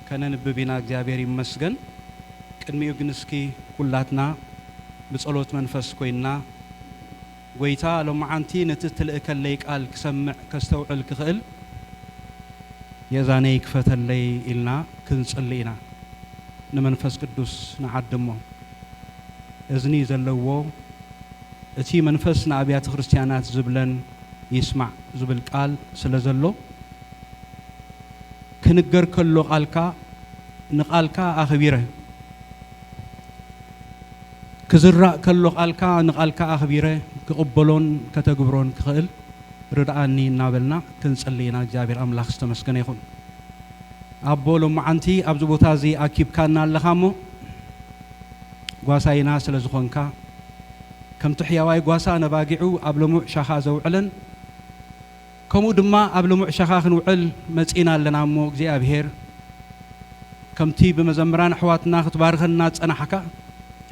ከነንብብ ኢና እግዚኣብሔር ይመስገን ቅድሚኡ ግን እስኪ ኩላትና ብጸሎት መንፈስ ኮይንና ጎይታ ሎምዓንቲ ነቲ እትልእከለይ ቃል ክሰምዕ ከስተውዕል ክኽእል የእዛነይ ክፈተለይ ኢልና ክንጽሊ ኢና ንመንፈስ ቅዱስ ንዓድሞ እዝኒ ዘለዎ እቲ መንፈስ ንኣብያተ ክርስትያናት ዝብለን ይስማዕ ዝብል ቃል ስለዘሎ ክንገር ከሎ ቃልካ ንቃልካ ኣኽቢረ ክዝራእ ከሎ ቃልካ ንቃልካ ኣኽቢረ ክቕበሎን ከተግብሮን ክኽእል ርድኣኒ እናበልና ክንጽሊ ኢና እግዚኣብሔር ኣምላኽ ዝተመስገነ ይኹን ኣቦ ሎማዓንቲ ኣብዚ ቦታ እዚ ኣኪብካና ኣለኻ እሞ ጓሳይና ስለ ዝኾንካ ከምቲ ሕያዋይ ጓሳ ነባጊዑ ኣብ ልሙዕ ሻኻ ዘውዕለን ከምኡ ድማ ኣብ ልሙዕ ሸኻ ክንውዕል መጺእና ኣለና እሞ እግዚኣብሄር ከምቲ ብመዘምራን ኣሕዋትና ክትባርኸና ዝጸናሕካ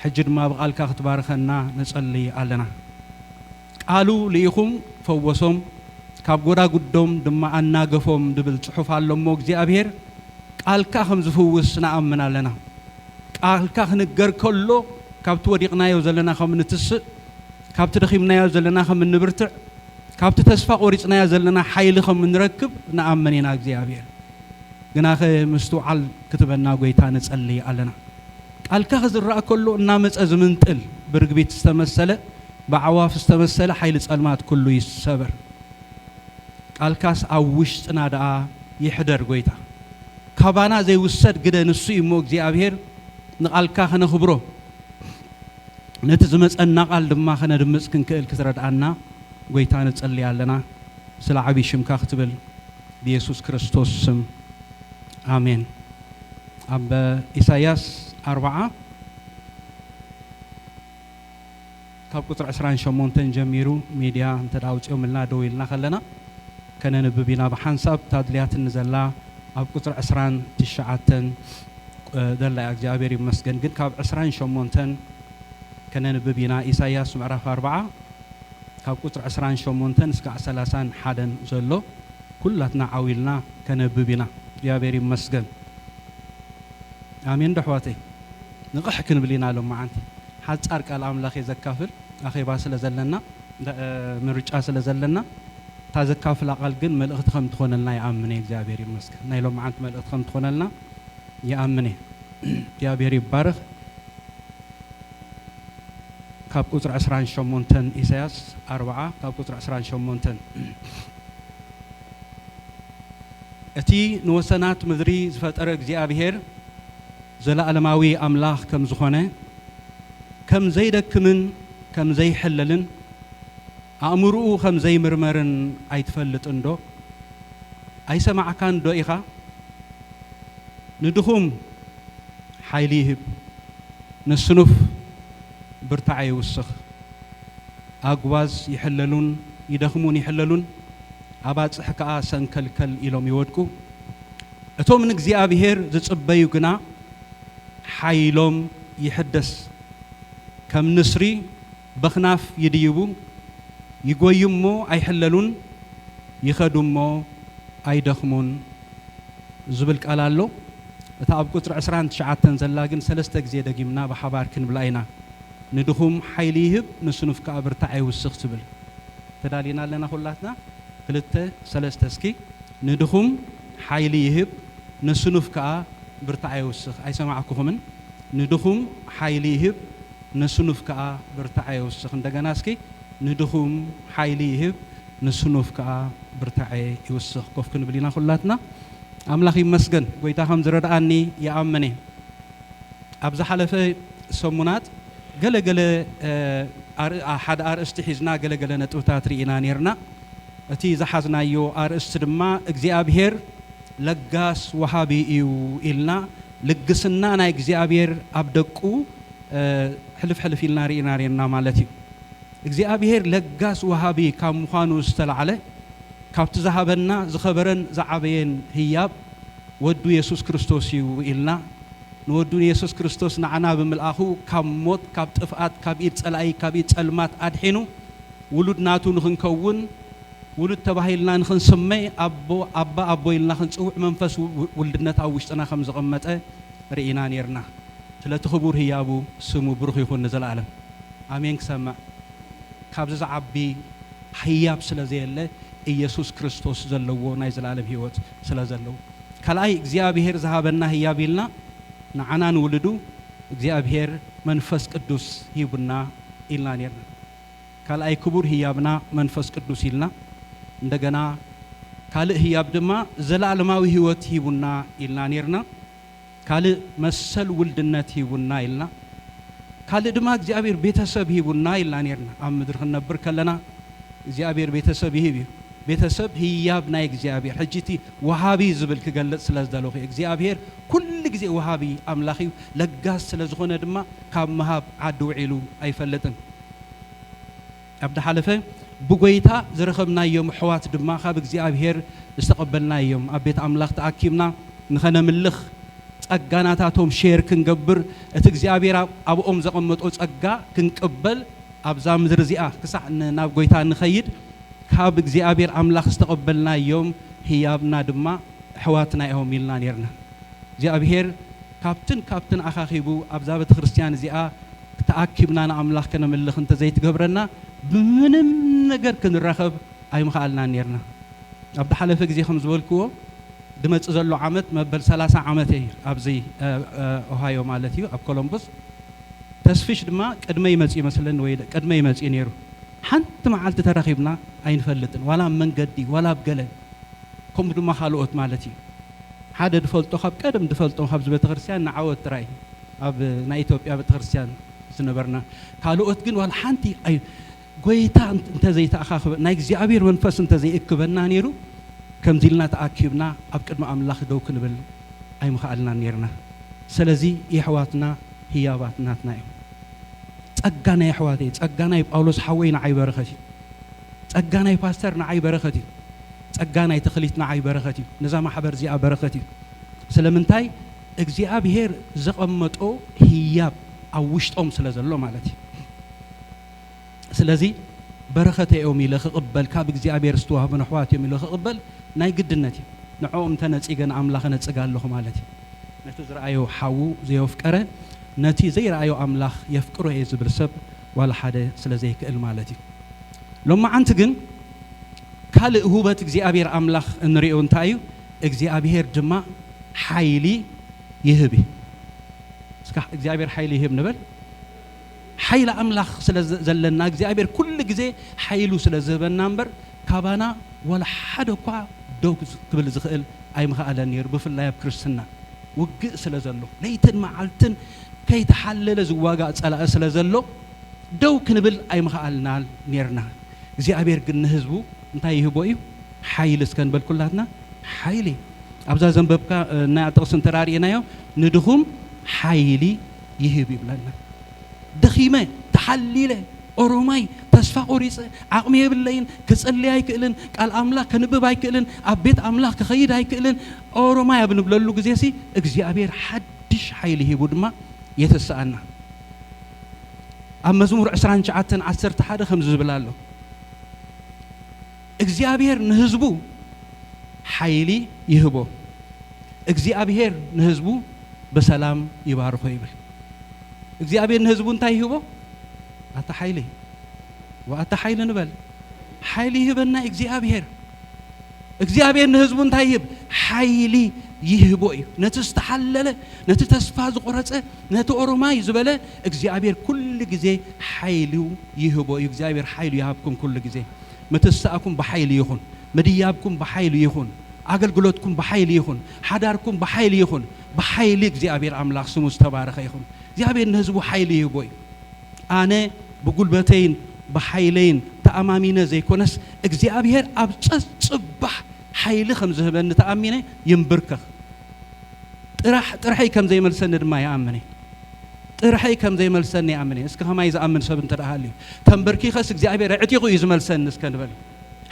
ሕጂ ድማ ብቓልካ ክትባርኸና ንጸሊ ኣለና ቃሉ ልኢኹም ፈወሶም ካብ ጎዳጉዶም ድማ ኣናገፎም ድብል ጽሑፍ ኣሎ እሞ እግዚኣብሄር ቃልካ ከም ዝፍውስ ንኣምን ኣለና ቃልካ ክንገር ከሎ ካብቲ ወዲቕናዮ ዘለና ከም ንትስእ ካብቲ ደኺምናዮ ዘለና ከም እንብርትዕ ካብቲ ተስፋ ቆሪጽናዮ ዘለና ሓይሊ ከም ንረክብ ንኣምን ኢና እግዚኣብሔር ግናኸ ምስትውዓል ክትበና ጎይታ ንጸልይ ኣለና ቃልካ ክዝራእ ከሎ እናመጸ ዝምንጥል ብርግቢት ዝተመሰለ ብኣዕዋፍ ዝተመሰለ ሓይሊ ጸልማት ኩሉ ይሰበር ቃልካስ ኣብ ውሽጥና ደኣ ይሕደር ጎይታ ካባና ዘይውሰድ ግደ ንሱ እዩሞ እግዚኣብሔር ንቃልካ ክነኽብሮ ነቲ ዝመጸና ቃል ድማ ከነድምጽ ክንክእል ክትረድኣና ጎይታ ንጽሊ ኣለና ስለ ዓቢ ሽምካ ክትብል ብየሱስ ክርስቶስ ስም ኣሜን ኣብ ኢሳያስ ኣርብዓ ካብ ቁጽሪ ዕስራን ሸሞንተን ጀሚሩ ሚድያ እንተ ኣውጺኦምልና ደው ኢልና ከለና ከነንብብ ኢና ብሓንሳብ እታ ኣድልያትኒ ዘላ ኣብ ቁጽሪ ዕስራን ትሽዓተን ዘላ እያ እግዚኣብሔር ይመስገን ግን ካብ ዕስራን ሸሞንተን ከነንብብ ኢና ኢሳያስ ምዕራፍ ኣርብዓ ካብ ቁጽሪ ዕስራን ሸሞንተን እስካዕ ሰላሳን ሓደን ዘሎ ኩላትና ዓው ኢልና ከነብብ ኢና እግዚኣብሔር ይመስገን ኣሜን ዶ ኣሕዋተይ ንቕሕ ክንብል ኢና ሎምዓንቲ ሓጻር ቃል ኣምላኽ እየ ዘካፍል ኣኼባ ስለ ዘለና ምርጫ ስለ ዘለና እታ ዘካፍላ ቃል ግን መልእኽቲ ከም ትኾነልና ይኣምን እየ እግዚኣብሔር ይመስገን ናይ ሎምዓንቲ መልእኽቲ ከም ትኾነልና ይኣምን እየ እግዚኣብሔር ይባረክ ካብ ቁፅሪ ዕስራን ሸሞንተን ኢሳያስ ኣርብዓ ካብ ቁፅሪ ዕስራን ሸሞንተን እቲ ንወሰናት ምድሪ ዝፈጠረ እግዚኣብሔር ዘለኣለማዊ ኣምላኽ ከም ዝኾነ ከም ዘይደክምን ከም ዘይሕለልን ኣእምርኡ ከም ዘይምርመርን ኣይትፈልጥን ዶ? ኣይሰማዕካን ዶ ኢኻ? ንድኹም ሓይሊ ይህብ፣ ንስኑፍ ብርታዐ ይውስኽ። ኣጕባዝ ይሕለሉን ይደኽሙን ይሕለሉን፣ ኣባጽሕ ከኣ ሰንከልከል ኢሎም ይወድቁ። እቶም ንእግዚኣብሄር ዝጽበዩ ግና ሓይሎም ይሕደስ፣ ከም ንስሪ፣ በኽናፍ ይድይቡ ይጎዩ እሞ ኣይሕለሉን ይኸዱ እሞ ኣይደኽሙን ዝብል ቃል ኣሎ። እታ ኣብ ቁጽሪ ዕስራን ትሽዓተን ዘላ ግን ሰለስተ ግዜ ደጊምና ብሓባር ክንብላ ኢና። ንድኹም ሓይሊ ይህብ ንስኑፍ ከኣ ብርታዐ ይውስኽ ትብል። ተዳሊና ኣለና ኩላትና? ክልተ ሰለስተ እስኪ ንድኹም ሓይሊ ይህብ ንስኑፍ ከኣ ብርታዐ ይውስኽ። ኣይሰማዕኩኹምን ንድኹም ሓይሊ ይህብ። ንስኑፍ ከኣ ብርታዐ የውስኽ። እንደገና እስኪ ንድኹም ሓይሊ ይህብ ንስኑፍ ከኣ ብርታዐ ይውስኽ። ኮፍ ክንብል ኢና ኩላትና። ኣምላኽ ይመስገን ጎይታ ከም ዝረድኣኒ ይኣምን እየ። ኣብ ዝሓለፈ ሰሙናት ገለ ገለ ኣር ሓደ ኣርእስቲ ሒዝና ገለ ገለ ነጥብታት ርኢና ኔርና። እቲ ዝሓዝናዮ ኣርእስቲ ድማ እግዚኣብሄር ለጋስ ወሃቢ እዩ ኢልና ልግስና ናይ እግዚኣብሄር ኣብ ደቁ ሕልፍ ሕልፍ ኢልና ርኢና ርኤና ማለት እዩ። እግዚኣብሄር ለጋስ ወሃቢ ካብ ምዃኑ ዝተላዕለ ካብቲ ዝሃበና ዝኸበረን ዝዓበየን ህያብ ወዱ የሱስ ክርስቶስ እዩ ኢልና ንወዱ ንየሱስ ክርስቶስ ንዓና ብምልኣኹ ካብ ሞት ካብ ጥፍኣት ካብ ኢድ ጸላኢ ካብ ኢድ ጸልማት ኣድሒኑ ውሉድ ናቱ ንኽንከውን ውሉድ ተባሂልና ንኽንስመ ኣቦ ኣባ ኣቦ ኢልና ክንጽውዕ መንፈስ ውልድነት ኣብ ውሽጥና ከም ዘቐመጠ ርኢና ኔርና። ስለቲ ክቡር ህያቡ ስሙ ብሩኽ ይኹን ንዘለኣለም ኣሜን ክሰምዕ ካብዚ ዝዓቢ ህያብ ስለ ዘየለ ኢየሱስ ክርስቶስ ዘለዎ ናይ ዘለኣለም ህይወት ስለ ዘለዎ ካልኣይ እግዚኣብሔር ዝሃበና ህያብ ኢልና ንዓና ንውልዱ እግዚኣብሔር መንፈስ ቅዱስ ሂቡና ኢልና ኔርና ካልኣይ ክቡር ህያብና መንፈስ ቅዱስ ኢልና እንደገና ካልእ ህያብ ድማ ዘለኣለማዊ ህይወት ሂቡና ኢልና ኔርና ካልእ መሰል ውልድነት ሂቡና ኢልና ካልእ ድማ እግዚኣብሔር ቤተሰብ ሂቡና ኢልና ኔርና ኣብ ምድሪ ክንነብር ከለና እግዚኣብሔር ቤተሰብ ይህብ እዩ ቤተሰብ ህያብ ናይ እግዚኣብሔር ሕጂ እቲ ወሃቢ ዝብል ክገልጽ ስለ ዝደለኹ እየ እግዚኣብሔር ኩሉ ግዜ ወሃቢ ኣምላኽ እዩ ለጋስ ስለ ዝኾነ ድማ ካብ ምሃብ ዓዲ ውዒሉ ኣይፈልጥን ኣብ ደሓለፈ ብጐይታ ዝረኸብናዮም ኣሕዋት ድማ ካብ እግዚኣብሔር ዝተቐበልናዮም ኣብ ቤት ኣምላኽ ተኣኪብና ንኸነምልኽ ጸጋ ናታቶም ሼር ክንገብር እቲ እግዚኣብሔር ኣብኦም ዘቐመጦ ጸጋ ክንቅበል ኣብዛ ምድሪ እዚኣ ክሳዕ ናብ ጐይታ ንኸይድ ካብ እግዚኣብሔር ኣምላኽ ዝተቐበልናዮም ህያብና ድማ ኣሕዋትና ኢዮም ኢልና ኔርና እግዚኣብሔር ካብትን ካብትን ኣኻኺቡ ኣብዛ ቤተክርስትያን እዚኣ ተኣኪብና ንኣምላኽ ከነምልኽ እንተ ዘይትገብረና ብምንም ነገር ክንራኸብ ኣይምኸኣልናን ኔርና። ኣብ ዝሓለፈ ግዜ ከም ዝበልክዎ ዝመጽእ ዘሎ ዓመት መበል ሰላሳ ዓመተይ ኣብዚ ኦሃዮ ማለት እዩ ኣብ ኮሎምቡስ ተስፍሽ ድማ ቅድመይ መጽዩ መስለኒ ወይ ቅድመይ መጽዩ ኔሩ ሓንቲ መዓልቲ ተራኺብና ኣይንፈልጥን ዋላ ኣብ መንገዲ ዋላ ኣብ ገለ ከምኡ ድማ ካልኦት ማለት እዩ። ሓደ ድፈልጦ ካብ ቀደም ድፈልጦ ካብዚ ቤተክርስትያን ንዓወት ጥራይ ኣብ ናይ ኢትዮጵያ ቤተክርስትያን ዝነበርና ካልኦት ግን ዋላ ሓንቲ ኣይ ጎይታ እንተ ዘይተኣኻኽበ ናይ እግዚኣብሔር መንፈስ እንተ ዘይእክበና ነይሩ ከምዚ ኢልና ተኣኪብና ኣብ ቅድሚ ኣምላኽ ደው ክንብል ኣይምኸኣልናን ነይርና ሰለዚ የሕዋትና ህያባት ናትና እዮም ጸጋ ናይ ኣሕዋተይ ጸጋ ናይ ጳውሎስ ሓወይ ንዓይ በረኸት እዩ ጸጋ ናይ ፓስተር ንዓይ በረኸት እዩ ጸጋ ናይ ተኽሊት ንዓይ በረኸት እዩ ነዛ ማሕበር እዚኣ በረኸት እዩ ስለምንታይ እግዚኣብሄር ዘቐመጦ ህያብ ኣብ ውሽጦም ስለ ዘሎ ማለት እዩ ስለዚ በረኸተ እዮም ኢለ ክቕበል ካብ እግዚኣብሄር ዝተዋህቡ ነሕዋት እዮም ኢለ ክቕበል ናይ ግድነት እዩ ንዕኦም ተነጺገ ንኣምላኽ ነጽግ ኣለኹ ማለት እዩ ነቲ ዝረኣዮ ሓዉ ዘየፍቀረ ነቲ ዘይረኣዮ ኣምላኽ የፍቅሮ እየ ዝብል ሰብ ዋላ ሓደ ስለ ዘይክእል ማለት እዩ ሎማዓንቲ ግን ካልእ ሁበት እግዚኣብሔር ኣምላኽ እንሪኦ እንታይ እዩ እግዚኣብሔር ድማ ሓይሊ ይህብ እዩ እስካ እግዚኣብሔር ሓይሊ ይህብ ንበል ሓይሊ ኣምላኽ ስለ ዘለና እግዚኣብሔር ኩሉ ግዜ ሓይሉ ስለ ዝህበና እምበር ካባና ዋላ ሓደ እኳ ደው ክብል ዝኽእል ኣይምኸኣለን ነይሩ ብፍላይ ኣብ ክርስትና ውግእ ስለ ዘሎ ለይትን መዓልትን ከይተሓለለ ዝዋጋእ ጸላኢ ስለ ዘሎ ደው ክንብል ኣይምኸኣልናን ኔርና። እግዚኣብሄር ግን ንህዝቡ እንታይ ይህቦ እዩ? ሓይሊ እስከ ንበል ኩላትና ሓይሊ። ኣብዛ ዘንበብካ እና ጥቕሲ እንተ ርኤናዮ ንድኹም ሓይሊ ይህብ ይብለና። ደኺመ፣ ተሓሊለ፣ ኦሮማይ፣ ተስፋ ቆሪጸ፣ ዓቕሚ የብለይን፣ ክጽሊ ኣይክእልን፣ ቃል ኣምላኽ ከንብብ ኣይክእልን፣ ኣብ ቤት ኣምላኽ ክኸይድ ኣይክእልን፣ ኦሮማይ ኣብ ንብለሉ ግዜሲ እግዚኣብሄር ሓድሽ ሓይሊ ሂቡ ድማ የተስኣና። ኣብ መዝሙር ዕስራን ትሽዓተን ዓሰርተ ሓደ ከምዚ ዝብል ኣሎ እግዚኣብሔር ንህዝቡ ሓይሊ ይህቦ እግዚኣብሔር ንህዝቡ በሰላም ይባርኮ ይብል እግዚኣብሔር ንህዝቡ እንታይ ይህቦ ኣታ ሓይሊ ወኣታ ሓይሊ ንበል ሓይሊ ይህበና እግዚኣብሔር እግዚኣብሔር ንህዝቡ እንታይ ይህብ? ሓይሊ ይህቦ እዩ። ነቲ ዝተሓለለ፣ ነቲ ተስፋ ዝቆረጸ፣ ነቲ ኦሮማይ ዝበለ እግዚኣብሔር ኩሉ ግዜ ሓይሉ ይህቦ እዩ። እግዚኣብሔር ሓይሉ ይሃብኩም ኩሉ ግዜ። ምትሳእኩም ብሓይሊ ይኹን፣ ምድያብኩም ብሓይሊ ይኹን፣ ኣገልግሎትኩም ብሓይሊ ይኹን፣ ሓዳርኩም ብሓይሊ ይኹን። ብሓይሊ እግዚኣብሔር ኣምላኽ ስሙ ዝተባረኸ ይኹን። እግዚኣብሔር ንህዝቡ ሓይሊ ይህቦ እዩ። ኣነ ብጉልበተይን ብሓይለይን ተኣማሚነ ዘይኮነስ እግዚኣብሄር ኣብ ጸጽባሕ ሓይሊ ከም ዝህበኒ ተኣሚነ ይምብርከኽ። ጥራሕ ጥርሐይ ከም ዘይመልሰኒ ድማ ይኣምን እየ። ጥርሐይ ከም ዘይመልሰኒ ይኣምን እየ። እስከ ከማይ ዝኣምን ሰብ እንተ ሃልዩ ተንበርኪኸስ እግዚኣብሄር ኣዕጢቑ እዩ ዝመልሰኒ እስከ ንበል።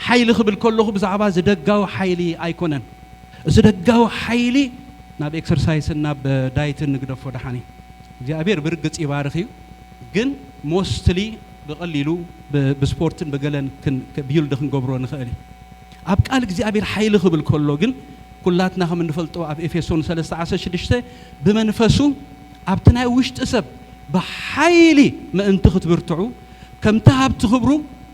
ሓይሊ ክብል ከለኹ ብዛዕባ እዚ ደጋዊ ሓይሊ ኣይኮነን። እዚ ደጋዊ ሓይሊ ናብ ኤክሰርሳይስን ናብ ዳይትን ንግደፎ ደሓን እዩ። እግዚኣብሔር ብርግጽ ይባርክ እዩ ግን ሞስትሊ ብቀሊሉ ብስፖርትን ብገለን ቢውልድ ክንገብሮ ንክእል እዩ ኣብ ቃል እግዚኣብሔር ሓይሊ ክብል ከሎ ግን ኩላትና ከም እንፈልጦ ኣብ ኤፌሶን ሰለስተ ዓሰርተ ሽዱሽተ ብመንፈሱ ኣብቲ ናይ ውሽጢ ሰብ ብሓይሊ ምእንቲ ክትብርትዑ ከምቲ ሃብቲ ክብሩ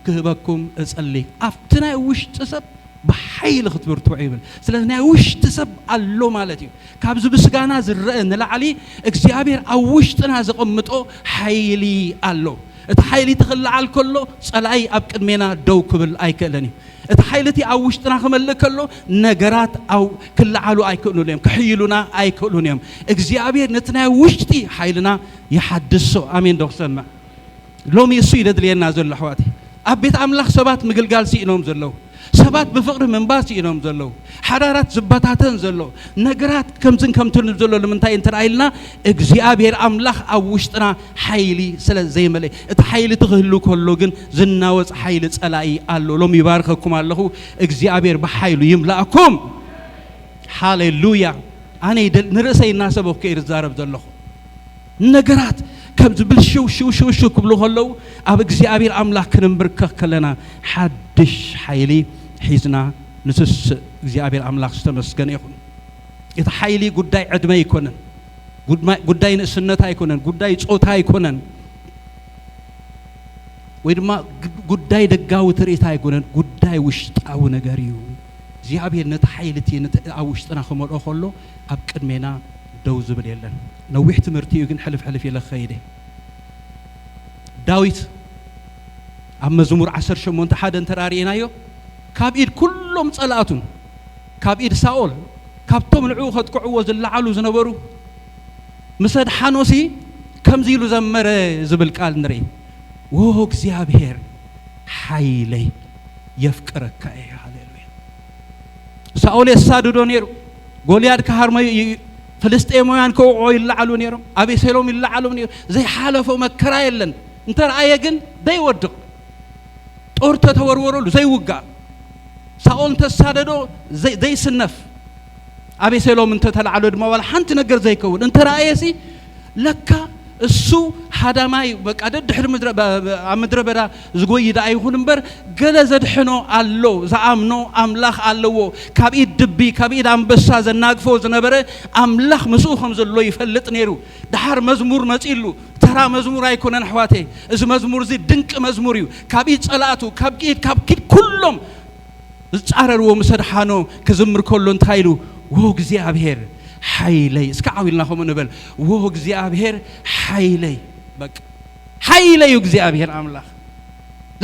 ክህበኩም እጸሊ ኣብቲ ናይ ውሽጢ ሰብ ብሓይሊ ክትብርትዑ ይብል ስለዚ ናይ ውሽጢ ሰብ ኣሎ ማለት እዩ ካብዚ ምስጋና ዝረኣ ንላዕሊ እግዚኣብሔር ኣብ ውሽጥና ዘቐምጦ ሓይሊ ኣሎ። እቲ ሓይሊ እቲ ክለዓል ከሎ ጸላኢ ኣብ ቅድሜና ደው ክብል ኣይክእልን እዩ። እቲ ሓይሊ እቲ ኣብ ውሽጥና ክመልእ ከሎ ነገራት ኣብ ክለዓሉ ኣይክእሉን እዮም፣ ክሕይሉና ኣይክእሉን እዮም። እግዚኣብሔር ነቲ ናይ ውሽጢ ሓይልና ይሓድሶ። ኣሜን ዶ ክሰምዕ? ሎሚ እሱ'ዩ ዘድልየና ዘሎ ኣሕዋተይ። ኣብ ቤት ኣምላኽ ሰባት ምግልጋል ስኢኖም ዘለዉ። ሰባት ብፍቕሪ ምንባር ስኢኖም ዘለዉ። ሓዳራት ዝበታተን ዘሎ። ነገራት ከምዝን ከምትን ዘሎ ንምንታይ እንተ ኢልና እግዚኣብሄር ኣምላኽ ኣብ ውሽጥና ሓይሊ ስለ ዘይመልኤ። እቲ ሓይሊ እቲ ክህሉ ከሎ ግን ዝናወጽ ሓይሊ ጸላኢ ኣሎ። ሎሚ ይባርኸኩም ኣለኹ። እግዚኣብሄር ብሓይሉ ይምልኣኩም። ሃሌሉያ። ኣነ ንርእሰይ እናሰበኩ እየ ዝዛረብ ዘለኹ። ነገራት ከም ዝብልሽው ሽው ሽው ሽው ክብሉ ከለዉ ኣብ እግዚኣብሔር ኣምላክ ክንምብርከኽ ከለና ሓድሽ ሓይሊ ሒዝና ንትስእ እግዚኣብሔር ኣምላክ ዝተመስገነ ይኹን እቲ ሓይሊ ጉዳይ ዕድመ ኣይኮነን ጉዳይ ንእስነት ኣይኮነን ጉዳይ ፆታ ኣይኮነን ወይ ድማ ጉዳይ ደጋዊ ትርኢት ኣይኮነን ጉዳይ ውሽጣዊ ነገር እዩ እግዚኣብሔር ነቲ ሓይሊ እቲ ኣብ ውሽጥና ክመልኦ ከሎ ኣብ ቅድሜና ደው ዝብል የለን ነዊሕ ትምህርቲ እዩ ግን ሕልፍ ሕልፍ ኢለ ክኸይድ እየ። ዳዊት ኣብ መዝሙር ዓሰርተ ሸሞንተ ሓደ እንተ ርኢናዮ ካብ ኢድ ኩሎም ጸላእቱን ካብ ኢድ ሳኦል ካብቶም ንዕኡ ከጥቅዕዎ ዝለዓሉ ዝነበሩ ምስ ኣድሓኖሲ ከምዚ ኢሉ ዘመረ ዝብል ቃል ንርኢ ዎ እግዚኣብሔር ሓይለይ የፍቅረካ እየ ሃሌሉያ ሳኦል የሳድዶ ነይሩ። ጎልያድ ክሃርመዩ እዩ። ፍልስጤማውያን ከውዕዖ ይለዓሉ ነይሮም። ኣቤሴሎም ይለዓሉ ነይሩ። ዘይሓለፎ መከራ የለን። እንተረኣየ ግን ዘይወድቕ ጦር ተተወርወረሉ ዘይውጋእ ሳኦል እንተሳደዶ ዘይስነፍ ኣቤሴሎም እንተተላዕሎ ድማ ዋላ ሓንቲ ነገር ዘይከውን እንተረኣየሲ ለካ እሱ ሃዳማይ በቃ ደድሕሪ ምድረ ኣብ ምድረ በዳ ዝጎይ ደኣ ይኹን እምበር ገለ ዘድሕኖ ኣሎ ዝኣምኖ ኣምላኽ ኣለዎ ካብ ኢድ ድቢ ካብ ኢድ ኣንበሳ ዘናግፎ ዝነበረ ኣምላኽ ምስኡ ከም ዘሎ ይፈልጥ ነይሩ ደሓር መዝሙር መጺሉ ተራ መዝሙር ኣይኮነን ኣሕዋተይ እዚ መዝሙር እዚ ድንቂ መዝሙር እዩ ካብ ኢድ ጸላእቱ ካብ ኢድ ካብ ኪድ ኩሎም ዝጻረርዎ ምስ ኣድሓኖ ክዝምር ከሎ እንታይ ኢሉ ዎ እግዚኣብሔር ሓይለይ እስከ ዓው ኢልና ከምኡ ንበል ዎ እግዚኣብሔር ሓይለይ በቃ ሓይለይ እዩ እግዚኣብሔር ኣምላኽ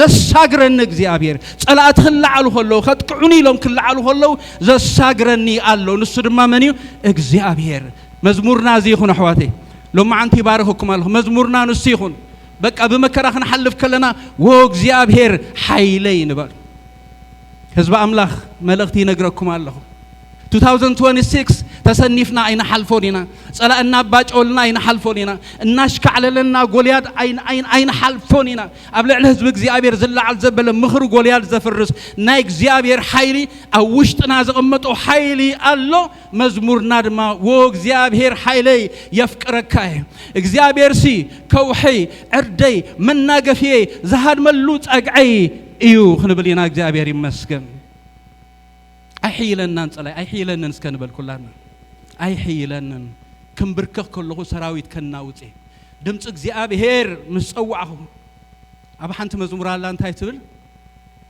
ዘሳግረኒ እግዚኣብሔር ጸላእቲ ክለዓሉ ከለዉ ከጥቅዑኒ ኢሎም ክለዓሉ ከለዉ ዘሳግረኒ ኣሎ ንሱ ድማ መን እዩ እግዚኣብሔር መዝሙርና እዚ ይኹን ኣሕዋተይ ሎማዓንቲ ይባርኸኩም ኣለኹ መዝሙርና ንሱ ይኹን በቃ ብመከራ ክንሓልፍ ከለና ወእግዚኣብሔር ሓይለይ ንበል። ህዝቢ ኣምላኽ መልእኽቲ ይነግረኩም ኣለኹ። 2026 ተሰኒፍና ኣይንሓልፎን ኢና። ጸላእ እናባጨወልና ኣይንሓልፎን ኢና። እናሽካዕለለና ጎልያድ ኣይንሓልፎን ኢና። ኣብ ልዕሊ ህዝቢ እግዚኣብሔር ዝለዓል ዘበለ ምኽሪ ጎልያድ ዘፍርስ ናይ እግዚኣብሔር ሓይሊ ኣብ ውሽጥና ዘቐመጦ ሓይሊ ኣሎ። መዝሙርና ድማ ወ እግዚኣብሔር ሓይለይ የፍቅረካ እየ እግዚኣብሔርሲ ከውሕይ ዕርደይ መናገፍየይ ዝሃድመሉ ጸግዐይ እዩ ክንብል ኢና እግዚኣብሔር ይመስገን ኣይሕይለናን ጸላይ ኣይሕይለንን እስከ ንበል ኩላና ኣይሕይለንን ክንብርከኽ ከለኹ ሰራዊት ከናውፅ እየ ድምፂ እግዚኣብሔር ምስ ጸዋዕኹ ኣብ ሓንቲ መዝሙር ኣላ እንታይ ትብል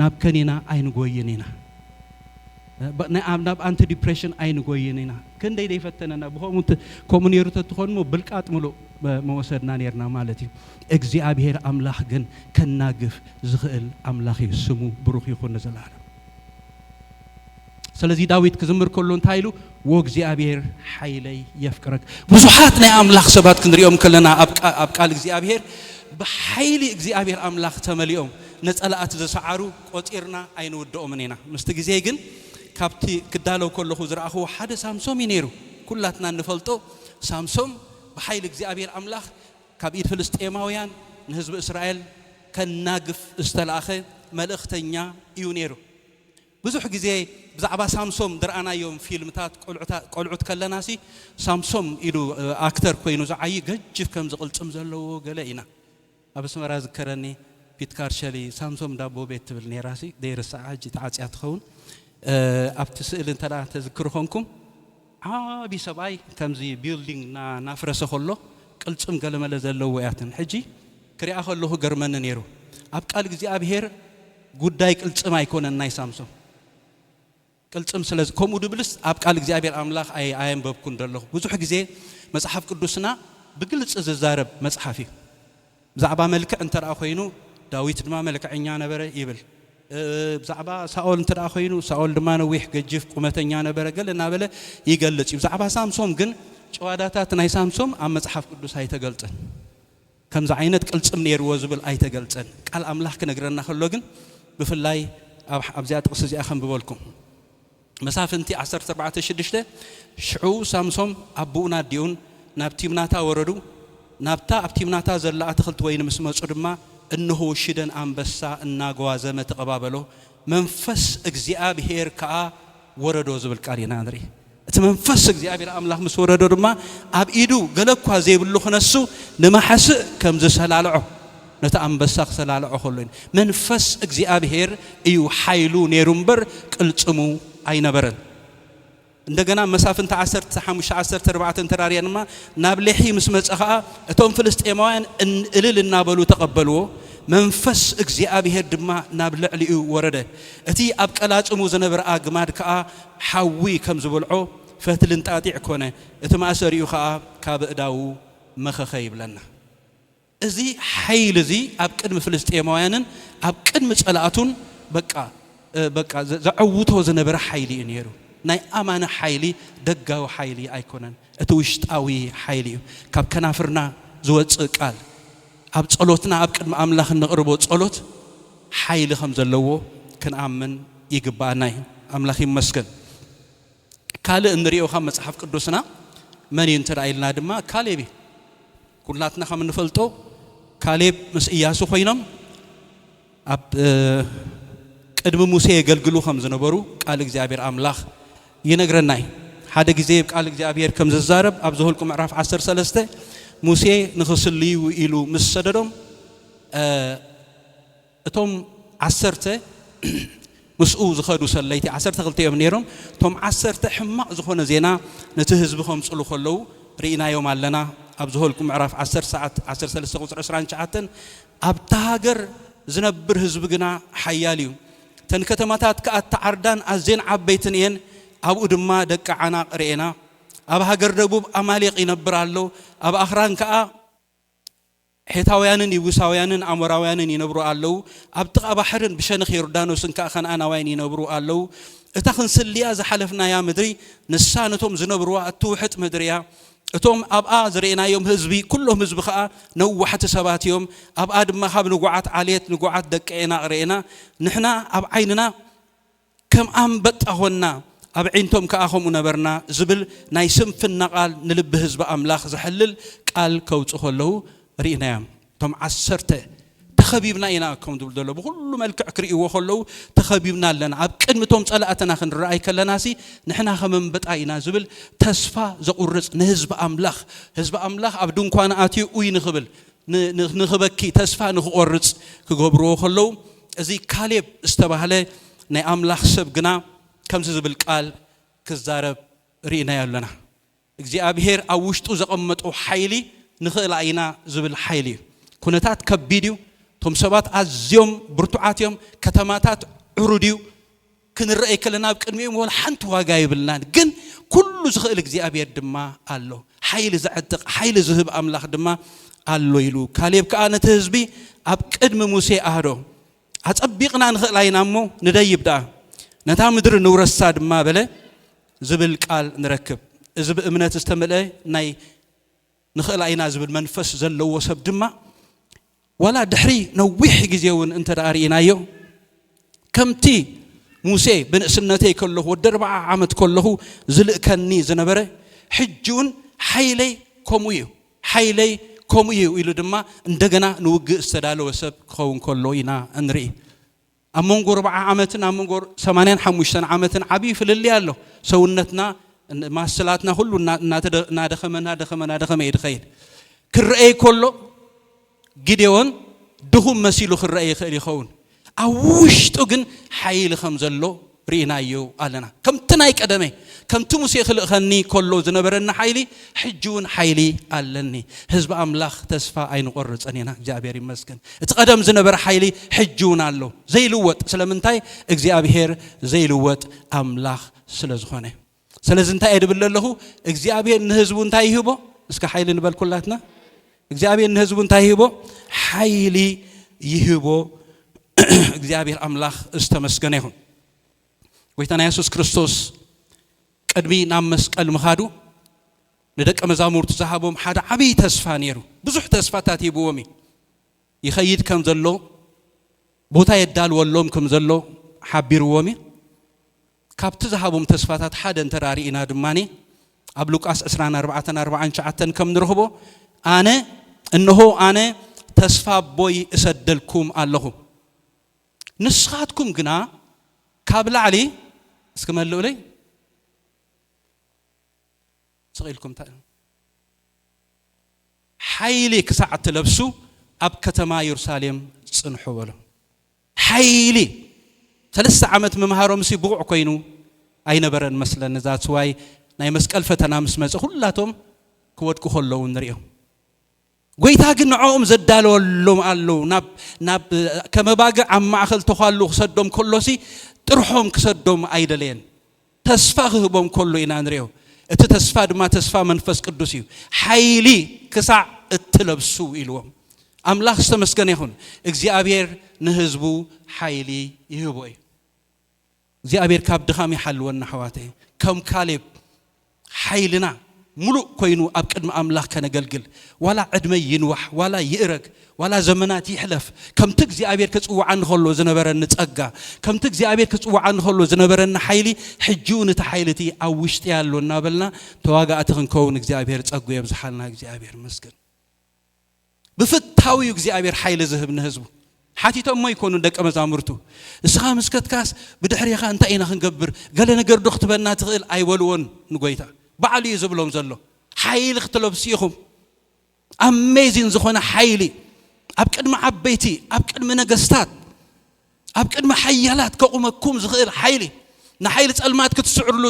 ናብ ከኒና ኣይንጎይን ኢና ናብ ናብ ኣንቲ ዲፕሬሽን ኣይንጎይን ኢና ክንደይ ዘይፈተነና ብከምኡ እንተ- ከምኡ ነይሩ ተትኾንሞ ብልቃጥ ምሉእ መ- መወሰድና ነይርና ማለት እዩ እግዚኣብሄር ኣምላኽ ግን ከናግፍ ዝኽእል ኣምላኽ እዩ ስሙ ብሩኽ ይኹን ንዘለኣለም ስለዚ ዳዊት ክዝምር ከሎ እንታይ ኢሉ ወእግዚኣብሔር ሓይለይ የፍቅረክ ብዙሓት ናይ ኣምላኽ ሰባት ክንሪኦም ከለና ኣብ ቃል እግዚኣብሔር ብሓይሊ እግዚኣብሔር ኣምላኽ ተመሊኦም ነጸላኣት ዝሰዓሩ ቆጺርና ኣይንውድኦምን ኢና ምስቲ ግዜ ግን ካብቲ ክዳለው ከለኹ ዝረኣኹዎ ሓደ ሳምሶም እዩ ነይሩ ኩላትና እንፈልጦ ሳምሶም ብሓይሊ እግዚኣብሔር ኣምላኽ ካብ ኢድ ፍልስጤማውያን ንህዝቢ እስራኤል ከናግፍ ዝተላእኸ መልእኽተኛ እዩ ነይሩ ብዙሕ ግዜ ብዛዕባ ሳምሶም ድርኣናዮም ፊልምታት ቆልዑት ከለናሲ ሳምሶም ኢሉ ኣክተር ኮይኑ ዝዓዪ ገጅፍ ከምዚ ቅልጽም ዘለዎ ገለ ኢና ኣብ ኣስመራ ዝከረኒ ፒት ካርሸሊ ሳምሶም ዳቦ ቤት ትብል ኔራሲ ዘይርስዓ ሕጂ ተዓጽያ ትኸውን ኣብቲ ስእሊ እንተ ተዝክሩ ኮንኩም ዓቢ ሰብኣይ ከምዚ ቢልዲንግ እና ናፍረሰ ከሎ ቅልጽም ገለመለ ዘለዎ እያ ትም ሕጂ ክሪኣ ከለኩ ገርመኒ ነይሩ ኣብ ቃል እግዚኣብሄር ጉዳይ ቅልጽም ኣይኮነን ናይ ሳምሶም ቅልጽም ስለ ከምኡ ድብልስ ኣብ ቃል እግዚኣብሄር ኣምላክ ኣይ ኣየንበብኩን ደለኩ ብዙሕ ግዜ መጽሓፍ ቅዱስና ብግልጽ ዝዛረብ መጽሓፍ እዩ ብዛዕባ መልክዕ እንተ ዀይኑ፣ ዳዊት ድማ መልክዐኛ ነበረ ይብል። ብዛዕባ ሳኦል እንተ ዀይኑ፣ ሳኦል ድማ ነዊሕ፣ ገጂፍ፣ ቁመተኛ ነበረ፣ ገለ እናበለ ይገልጽ እዩ። ብዛዕባ ሳምሶም ግን ጭዋዳታት ናይ ሳምሶም ኣብ መጽሓፍ ቅዱስ ኣይተገልጸን። ከምዚ ዓይነት ቅልጽም ነይርዎ ዝብል ኣይተገልጸን። ቃል ኣምላኽ ክነግረና ከሎ ግን ብፍላይ ኣብዚኣ ጥቕሲ እዚኣ ከንብበልኩም። መሳፍንቲ ዓሰርተ ኣርባዕተ ሽዱሽተ ሽዑ ሳምሶም ኣቦኡን ኣዲኡን ናብ ቲምናታ ወረዱ፣ ናብታ ኣብ ቲምናታ ዘላ ኣትኽልቲ ወይኒ ምስ መጹ ድማ፣ እንሆ ሽደን ኣንበሳ እናጓዘመ ተቐባበሎ፣ መንፈስ እግዚኣብሄር ከኣ ወረዶ ዝብል ቃል ኢና ንርኢ። እቲ መንፈስ እግዚኣብሄር ኣምላኽ ምስ ወረዶ ድማ ኣብ ኢዱ ገለ እኳ ዘይብሉ ክነሱ ንማሕስእ ከም ዝሰላልዖ፣ ነቲ ኣንበሳ ክተላልዖ ከሎ እዩ። መንፈስ እግዚኣብሄር እዩ ሓይሉ ነይሩ እምበር ቅልጽሙ ኣይነበረን። እንደገና መሳፍንቲ ዓሰርተ ሓሙሽተ ዓሰርተ ኣርባዕተ እንተ ርኣና ድማ ናብ ሌሒ ምስ መጸ ኸኣ እቶም ፍልስጤማውያን እልል እናበሉ ተቐበልዎ፣ መንፈስ እግዚኣብሄር ድማ ናብ ልዕሊኡ ወረደ፣ እቲ ኣብ ቀላጽሙ ዝነበረ ኣግማድ ከኣ ሓዊ ከም ዝበልዖ ፈትሊ እንጣጢዕ ኰነ፣ እቲ ማእሰሪኡ ኸኣ ካብ ኣእዳዉ መኸኸ ይብለና። እዚ ሓይሊ እዚ ኣብ ቅድሚ ፍልስጥኤማውያንን ኣብ ቅድሚ ጸላእቱን በቃ በቃ ዘዐውቶ ዝነበረ ሓይሊ እዩ ነይሩ። ናይ ኣማኒ ሓይሊ ደጋዊ ሓይሊ ኣይኮነን፣ እቲ ውሽጣዊ ሓይሊ እዩ። ካብ ከናፍርና ዝወጽእ ቃል፣ ኣብ ጸሎትና ኣብ ቅድሚ ኣምላኽ እነቕርቦ ጸሎት ሓይሊ ከም ዘለዎ ክንኣምን ይግብኣና እዩ። ኣምላኽ ይመስገን። ካልእ እንሪኦ ካብ መጽሓፍ ቅዱስና መን እዩ እንተ ኢልና ድማ ካሌብ እዩ። ኩላትና ከም እንፈልጦ ካሌብ ምስ እያሱ ኮይኖም ኣብ ቅድሚ ሙሴ የገልግሉ ከም ዝነበሩ ቃል እግዚኣብሔር ኣምላኽ ይነግረና እዩ። ሓደ ግዜ ቃል እግዚኣብሔር ከም ዝዛረብ ኣብ ዘሁልቁ ምዕራፍ ዓሰርተ ሰለስተ ሙሴ ንኽስልዩ ኢሉ ምስ ሰደዶም እቶም ዓሰርተ ምስኡ ዝኸዱ ሰለይቲ ዓሰርተ ክልተ እዮም ነይሮም። እቶም ዓሰርተ ሕማቕ ዝኾነ ዜና ነቲ ህዝቢ ከምጽሉ ከለዉ ርኢናዮም ኣለና። ኣብ ዘሆልቍ ምዕራፍ ዓሰርተ ሰዓት ዓሰርተ ሰለስተ ቁጽሪ ዕስራን ትሽዓተን ኣብታ ሃገር ዝነብር ህዝቢ ግና ሓያል እዩ፣ እተን ከተማታት ከኣ እተዓርዳን ኣዝየን ዓበይትን እየን፣ ኣብኡ ድማ ደቂ ዓናቕ ርኤና። ኣብ ሃገር ደቡብ ኣማሌቕ ይነብር ኣሎ፣ ኣብ ኣኽራን ከኣ። ሔታውያንን የቡሳውያንን ኣሞራውያንን ይነብሩ ኣለዉ፣ ኣብ ጥቓ ባሕርን ብሸነኽ ዮርዳኖስን ከኣ ከነኣናውያን ይነብሩ ኣለዉ። እታ ኽንስልያ ዝሓለፍናያ ምድሪ፣ ንሳ ነቶም ዚነብርዋ እትውሕጥ ምድሪ እያ። እቶም ኣብኣ ዝርኤናዮም ህዝቢ፣ ኵሎም ህዝቢ ኸኣ ነዋሕቲ ሰባት እዮም። ኣብኣ ድማ ኻብ ንጉዓት ዓሌት፣ ንጉዓት ደቂ ዔናቕ ርኤና፣ ንሕና ኣብ ዓይንና፣ ከም ኣንበጣ ዀንና፣ ኣብዒንቶም ከኣ ከምኡ ነበርና ዝብል ናይ ስንፍና ቓል ንልቢ ህዝቢ ኣምላኽ ዘሐልል ቃል ከውጽኡ ከለዉ ርኢናዮም። እቶም ዓሰርተ፣ ተኸቢብና ኢና ከም ዝብሉ ዘለዉ ብዅሉ መልክዕ ክርእይዎ ከለዉ፣ ተኸቢብና ኣለና፣ ኣብ ቅድሚ እቶም ጸላእትና ክንረኣይ ከለናሲ ንሕና ከም ኣንበጣ ኢና ዝብል ተስፋ ዘቝርጽ ንህዝቢ ኣምላኽ፣ ህዝቢ ኣምላኽ ኣብ ድንኳኑ ኣትዩ ኡይ ንኽብል፣ ንኽበኪ፣ ተስፋ ንኽቈርጽ ክገብርዎ ከለዉ፣ እዚ ካሌብ ዝተባህለ ናይ ኣምላኽ ሰብ ግና ከምዚ ዝብል ቃል ክዛረብ ርኢናዮ ኣሎና። እግዚኣብሄር ኣብ ውሽጡ ዘቐመጦ ሓይሊ ንኽእላ ኢና ዝብል ሓይሊ እዩ። ኩነታት ከቢድ እዩ፣ እቶም ሰባት ኣዝዮም ብርቱዓት እዮም፣ ከተማታት ዕሩድ እዩ፣ ክንረኣይ ከለና ኣብ ቅድሚኦም ወላ ሓንቲ ዋጋ የብልናን ግን ኩሉ ዝኽእል እግዚኣብሔር ድማ ኣሎ ሓይሊ ዘዕጥቕ ሓይሊ ዝህብ ኣምላኽ ድማ ኣሎ ኢሉ ካሌብ ከዓ ነቲ ህዝቢ ኣብ ቅድሚ ሙሴ ኣህዶ ኣጸቢቕና ንኽእል ኣይና እሞ ንደይብ ደኣ ነታ ምድሪ ንውረሳ ድማ በለ ዝብል ቃል ንረክብ እዚ ብእምነት ዝተመልአ ናይ ንኽእል ኢና ዝብል መንፈስ ዘለዎ ሰብ ድማ ዋላ ድሕሪ ነዊሕ ግዜ እውን እንተ ደኣ ርኢናዮ ከምቲ ሙሴ ብንእስነተይ ከለኹ ወዲ ኣርባዓ ዓመት ከለኹ ዝልእከኒ ዝነበረ ሕጂ እውን ሓይለይ ከምኡ እዩ ሓይለይ ከምኡ እዩ ኢሉ ድማ እንደገና ንውግእ ዝተዳለወ ሰብ ክኸውን ከሎ ኢና እንርኢ ኣብ መንጎ ኣርብዓ ዓመትን ኣብ መንጎ ሰማንያን ሓሙሽተን ዓመትን ዓብዪ ፍልልይ ኣሎ። ሰውነትና ማስላትና ኩሉ እናደኸመ እናደኸመ እናደኸመ እዩ ዝኸይድ። ክረአይ ከሎ ጊዴዎን ድኹም መሲሉ ክረአ ይኽእል ይኸውን፣ ኣብ ውሽጡ ግን ሓይሊ ከም ዘሎ ርኢናዮ ኣለና። ከምቲ ናይ ቀደመ፣ ከምቲ ሙሴ ኺልእኸኒ ከሎ ዝነበረኒ ሓይሊ፣ ሕጂውን ሓይሊ ኣለኒ። ህዝቢ ኣምላኽ ተስፋ ኣይንቖርጽን ኢና፣ እግዚኣብሄር ይመስገን። እቲ ቀደም ዝነበረ ሓይሊ ሕጂውን ኣሎ፣ ዘይልወጥ። ስለምንታይ? እግዚኣብሄር ዘይልወጥ ኣምላኽ ስለ ዝኾነ። ስለዚ እንታይ እየ ድብል ዘለኹ እግዚኣብሔር ንህዝቡ እንታይ ይህቦ እስከ ሓይሊ ንበል ኩላትና እግዚኣብሔር ንህዝቡ እንታይ ይህቦ ሓይሊ ይህቦ እግዚኣብሔር ኣምላኽ ዝተመስገነ ይኹን ጎይታና የሱስ ክርስቶስ ቅድሚ ናብ መስቀል ምኻዱ ንደቀ መዛሙርቱ ዝሃቦም ሓደ ዓብዪ ተስፋ ነይሩ ብዙሕ ተስፋታት ሂብዎም እዩ ይኸይድ ከም ዘሎ ቦታ የዳልወሎም ከም ዘሎ ሓቢርዎም እዩ ካብቲ ዝሃቦም ተስፋታት ሓደ እንተ ርኢና ድማ ኣብ ሉቃስ ዕስራን ኣርባዕተን ኣርብዓን ትሽዓተን ከም ንረኽቦ ኣነ እንሆ ኣነ ተስፋ ኣቦይ እሰደልኩም ኣለኹ ንስኻትኩም ግና ካብ ላዕሊ እስኪ መልኡለይ ስቂልኩም እንታይ ሓይሊ ክሳዕ እትለብሱ ኣብ ከተማ የሩሳሌም ጽንሑ በሎም ሓይሊ ሰለስተ ዓመት ምምሃሮምሲ ብቑዕ ኮይኑ ኣይነበረን መስለኒ that's why ናይ መስቀል ፈተና ምስ መጸ ኩላቶም ክወድቁ ከለዉ ንሪኦም ጎይታ ግን ንዕኦም ዘዳለወሎም ኣለዉ ናብ ናብ ከመባግዕ ኣብ ማእከል ተዃሉ ክሰዶም ከሎሲ ጥርሖም ክሰዶም ኣይደለየን ተስፋ ክህቦም ከሎ ኢና ንሪኦ። እቲ ተስፋ ድማ ተስፋ መንፈስ ቅዱስ እዩ። ሓይሊ ክሳዕ እትለብሱ ኢልዎም። ኣምላኽ ዝተመስገነ ይኹን። እግዚኣብሔር ንህዝቡ ሓይሊ ይህቦ እዩ። እግዚኣብሔር ካብ ድኻም ይሓልወና ኣሕዋተይ። ከም ካሌብ ሓይልና ምሉእ ኮይኑ ኣብ ቅድሚ ኣምላኽ ከነገልግል፣ ዋላ ዕድመይ ይንዋሕ፣ ዋላ ይእረግ፣ ዋላ ዘመናት ይሕለፍ፣ ከምቲ እግዚኣብሄር ክጽውዓኒ ከሎ ዝነበረኒ ጸጋ፣ ከምቲ እግዚኣብሄር ክጽውዓኒ ከሎ ዝነበረኒ ሓይሊ፣ ሕጂ'ውን እቲ ሓይሊ እቲ ኣብ ውሽጢይ ኣሎ እናበልና ተዋጋእቲ ክንከውን እግዚኣብሄር ጸግኡ የብዝሓልና። እግዚኣብሄር ይመስገን። ብፍታው እዩ እግዚኣብሔር ሓይሊ ዝህብ ንህዝቡ ሓቲቶም ሞ ይኮኑ ደቀ መዛሙርቱ እስኻ ምስከትካስ ብድሕሪኻ እንታይ ኢና ክንገብር ገለ ነገር ዶ ክትበና ትኽእል ኣይበልዎን ንጎይታ ባዕሉ እዩ ዝብሎም ዘሎ ሓይሊ ክትለብሱ ኢኹም ኣሜዚን ዝኾነ ሓይሊ ኣብ ቅድሚ ዓበይቲ ኣብ ቅድሚ ነገስታት ኣብ ቅድሚ ሓያላት ከቑመኩም ዝኽእል ሓይሊ፣ ንሓይሊ ጸልማት ክትስዕርሉ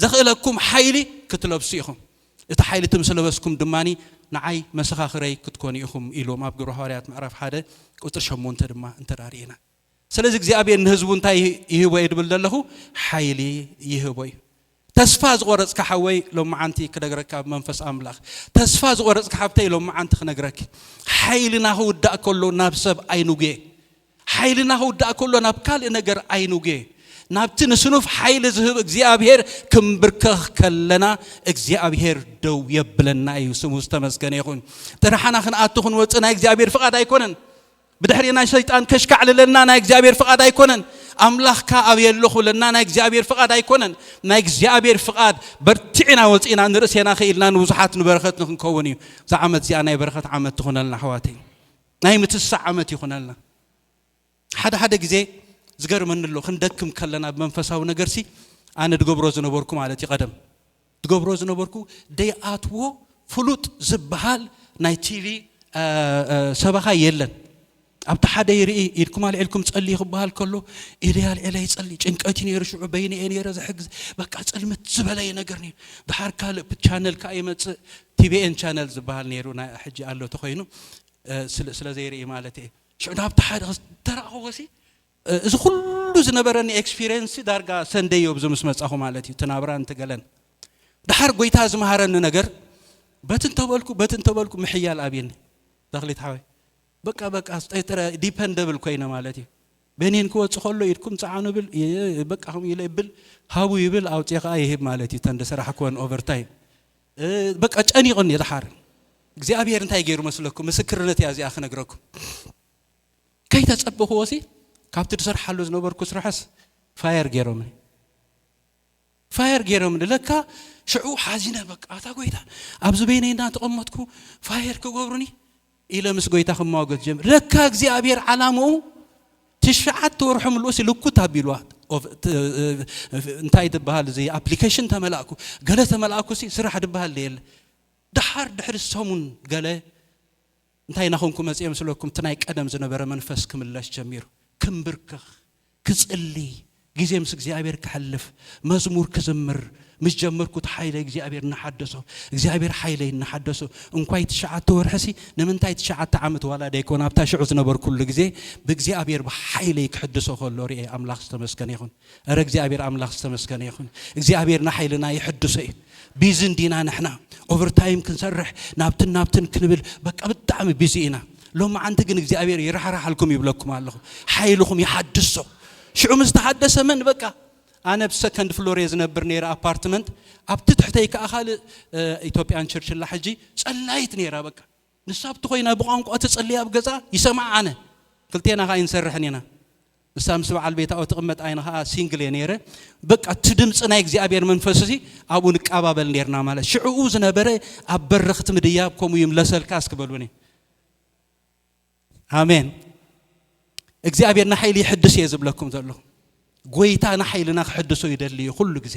ዘኽእለኩም ሓይሊ ክትለብሱ ኢኹም። እቲ ሓይሊ እቲ ምስ ለበስኩም ድማ ንዓይ መሰኻኽረይ ክትኮኑ ኢኹም ኢሉዎም ኣብ ግብረ ሃዋርያት ምዕራፍ ሓደ ቁጽሪ ሸሞንተ ድማ እንተ ርኢና ስለዚ እግዚኣብሔር ንህዝቡ እንታይ ይህቦ እየ ድብል ዘለኹ ሓይሊ ይህቦ እዩ ተስፋ ዝቆረጽካ ሓወይ ሎምዓንቲ ክደግረካ ብመንፈስ ኣምላኽ ተስፋ ዝቆረጽካ ሓብተይ ሎምዓንቲ ክነግረኪ ሓይልና ክውዳእ ከሎ ናብ ሰብ ኣይንጉየ ሓይልና ክውዳእ ከሎ ናብ ካልእ ነገር ኣይንጉየ ናብቲ ንስኑፍ ሓይሊ ዝህብ እግዚኣብሄር ክንብርከኽ ከለና እግዚኣብሄር ደው የብለና እዩ ስሙ ዝተመስገነ ይኹን ጥራሕና ክንኣቱ ክንወፅእ ናይ እግዚኣብሄር ፍቓድ ኣይኮነን ብድሕሪ ናይ ሰይጣን ከሽካዕልለና ናይ እግዚኣብሔር ፍቓድ ኣይኮነን። ኣምላኽካ ኣብየ ኣለኹ ለና ናይ እግዚኣብሔር ፍቓድ ኣይኮነን። ናይ እግዚኣብሔር ፍቓድ በርቲዕና ወፂእና ንርእሴና ክኢልና ንብዙሓት ንበረኸት ንክንከውን እዩ። እዛ ዓመት እዚኣ ናይ በረኸት ዓመት ትኹነልና ኣሕዋተይ። ናይ ምትሳዕ ዓመት ይኹነልና። ሓደ ሓደ ግዜ ዝገርመኒ ኣሎ ክንደክም ከለና ብመንፈሳዊ ነገርሲ ኣነ ድገብሮ ዝነበርኩ ማለት እዩ ቀደም ዝገብሮ ዝነበርኩ ደይኣትዎ ፍሉጥ ዝብሃል ናይ ቲቪ ሰበኻ የለን ኣብቲ ሓደ ይርኢ ኢድኩም ኣልዒልኩም ጸልዩ ክበሃል ከሎ ኢደይ ኣልዒለ ይጸሊ ጭንቀት እዩ ነይሩ ሽዑ በይነ እየ ነይረ ዘሕግዝ በቃ ጽልምት ዝበለየ ነገር ነይሩ ድሓር ካልእ ቻነል ከዓ ይመጽእ ቲቪኤን ቻነል ዝበሃል ነይሩ ናይ ሕጂ ኣሎ ተኮይኑ ስለ ዘይርኢ ማለት እየ ሽዑ ናብቲ ሓደ ተራእኸዎሲ እዚ ኩሉ ዝነበረኒ ኤክስፒርየንስ ዳርጋ ሰንደይ ዮብዚ ምስ መጻኹ ማለት እዩ እቲ ናብራን እቲ ገለን ድሓር ጎይታ ዝመሃረኒ ነገር በቲ እንተበልኩ በቲ እንተበልኩ ምሕያል ኣብየኒ ተኽሊት ሓወይ በቃ በቃ ስጠይጥረ ዲፐንደብል ኮይነ ማለት እዩ በኒን ክወፅ ከሎ ኢድኩም ፀዓኑ ብል በቃ ከምኡ ኢለ ይብል ሃቡ ይብል ኣውፅኤ ከዓ ይህብ ማለት እዩ ተንደ ስራሕ ኮን ኦቨርታይም በቃ ጨኒቕን እዩ ድሓር እግዚኣብሔር እንታይ ገይሩ መስለኩም ምስክርነት እያ እዚኣ ክነግረኩም ከይተጸበኽዎሲ ካብቲ ድሰርሓሉ ዝነበርኩ ስራሕስ ፋየር ገይሮምኒ ፋየር ገይሮምኒ ለካ ሽዑ ሓዚነ በቃ ኣታ ጎይታ ኣብዚ በይነይ እንዳተቐመጥኩ ፋየር ክገብሩኒ ኢለ ምስ ጎይታ ክማወገት ጀምር ለካ እግዚኣብሔር ዓላምኡ ትሽዓተ ወርሑ ምልኡሲ ልኩት ኣቢልዋ እንታይ ትበሃል እዚ ኣፕሊኬሽን ተመላእኩ ገለ ተመላእኩሲ ስራሕ ድበሃል የለ ድሓር ድሕሪ ሰሙን ገለ እንታይ ናኾንኩ መጽየ ምስለኩም እቲ ናይ ቀደም ዝነበረ መንፈስ ክምለስ ጀሚሩ ክንብርክኽ ክጽሊ ግዜ ምስ እግዚኣብሔር ከሕልፍ መዝሙር ክዝምር ምስ ጀመርኩ እቲ ሓይለ እግዚኣብሔር እናሓደሶ እግዚኣብሔር ሓይለይ እናሓደሶ እንኳይ ትሽዓተ ወርሕሲ ንምንታይ ትሽዓተ ዓመት ዋላ ደይኮን ኣብታ ሽዑ ዝነበርኩሉ ግዜ ብእግዚኣብሔር ብሓይለይ ክሕድሶ ከሎ ርኤ ኣምላኽ ዝተመስገነ ይኹን እረ እግዚኣብሔር ኣምላኽ ዝተመስገነ ይኹን እግዚኣብሔር ንሓይልና ይሕድሶ እዩ ቢዚ እንዲና ንሕና ኦቨርታይም ክንሰርሕ ናብትን ናብትን ክንብል በቃ ብጣዕሚ ቢዚ ኢና ሎመዓንቲ ግን እግዚኣብሔር ይራሕራሓልኩም ይብለኩም ኣለኹ ሓይልኹም ይሓድሶ ሽዑ ምስ ተሓደሰ መን በቃ ኣነ ብ ሰከንድ ፍሎር እየ ዝነብር ነይረ ኣፓርትመንት ኣብቲ ትሕተይ ከዓ ካልእ ኢትዮጵያን ቸርችላ ሕጂ ጸላይት ነይራ በቃ ንሳ ኣብቲ ኮይና ብቋንቋ ትጽሊ ኣብ ገዛ ይሰምዓ ኣነ ክልቴና ከኣ ኣይንሰርሕን ኢና ንሳ ምስ በዓል ቤታ ኣብ ትቕመጥ ኣይነ ከኣ ሲንግል እየ ነይረ በቃ እቲ ድምጺ ናይ እግዚኣብሔር መንፈስ እዚ ኣብኡ ንቃባበል ነርና ማለት ሽዕኡ ዝነበረ ኣብ በረኽት ምድያብ ከምኡ ይምለሰልካ እስኪ በሉኒ ኣሜን እግዚኣብሔር ንሓይሊ ይሕድስ እየ ዝብለኩም ዘለኹ ጎይታ ንሓይልና ክሕድሶ ይደሊ እዩ ኩሉ ግዜ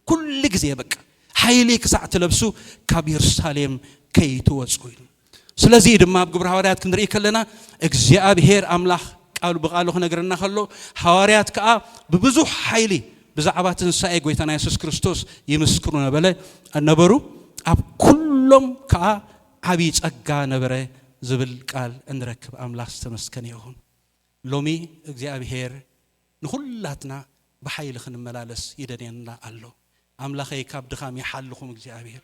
ኩሉ ግዜ በቃ ሓይሊ ክሳዕ ትለብሱ ካብ የሩሳሌም ከይትወጹ ኢሉ። ስለዚ ድማ ኣብ ግብሪ ሃዋርያት ክንርኢ ከለና እግዚኣብሄር ኣምላኽ ቃሉ ብቃሉ ክነግረና ከሎ ሃዋርያት ከኣ ብብዙሕ ሓይሊ ብዛዕባ ትንሳኤ ጎይታና የሱስ ክርስቶስ ይምስክሩ ነበለ ነበሩ ኣብ ኩሎም ከኣ ዓብዪ ጸጋ ነበረ ዝብል ቃል እንረክብ ኣምላኽ ዝተመስከነ ይኹን። ሎሚ እግዚኣብሄር ንኩላትና ብሓይሊ ክንመላለስ ይደልየና ኣሎ ኣምላኸይ ካብ ድኻም ይሓልኹም እግዚኣብሔር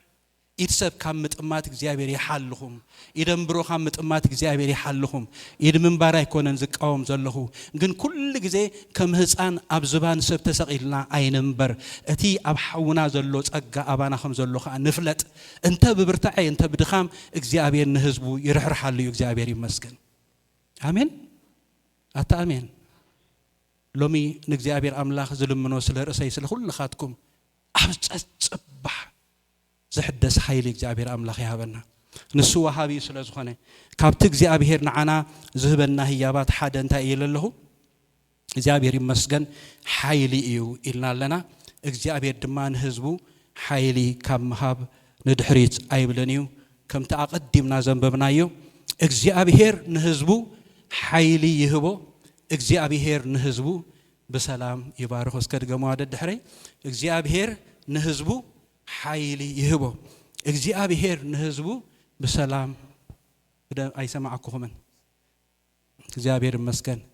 ኢድ ሰብ ካብ ምጥማት እግዚኣብሔር ይሓልኹም ኢደንብሮ ካብ ምጥማት እግዚኣብሔር ይሓልኹም ኢድ ምንባር ኣይኮነን ዝቃወም ዘለኹ ግን ኩሉ ግዜ ከም ህፃን ኣብ ዝባን ሰብ ተሰቒልና ኣይንንበር እቲ ኣብ ሓውና ዘሎ ጸጋ ኣባና ከም ዘሎ ከዓ ንፍለጥ እንተ ብብርታዐ እንተ ብድኻም እግዚኣብሔር ንህዝቡ ይርሕርሓሉ እዩ እግዚኣብሔር ይመስገን ኣሜን ኣታ ኣሜን ሎሚ ንእግዚኣብሔር ኣምላኽ ዝልምኖ ስለ ርእሰይ ስለ ኩልኻትኩም ኣብ ጸጽባሕ ዝሕደስ ሓይሊ እግዚኣብሔር ኣምላኽ ይሃበና ንሱ ወሃቢ ስለ ዝኾነ ካብቲ እግዚኣብሔር ንዓና ዝህበና ህያባት ሓደ እንታይ እየ ለለኹ እግዚኣብሔር ይመስገን ሓይሊ እዩ ኢልና ኣለና እግዚኣብሔር ድማ ንህዝቡ ሓይሊ ካብ ምሃብ ንድሕሪት ኣይብልን እዩ ከምቲ ኣቐዲምና ዘንበብናዮ እግዚኣብሄር ንህዝቡ ሓይሊ ይህቦ፣ እግዚኣብሄር ንህዝቡ ብሰላም ይባርኾ። እስከ ድገምዋ ደድሕረይ፣ እግዚኣብሄር ንህዝቡ ሓይሊ ይህቦ፣ እግዚኣብሄር ንህዝቡ ብሰላም ኣይሰማዕኩኹምን። እግዚኣብሄር ይመስገን።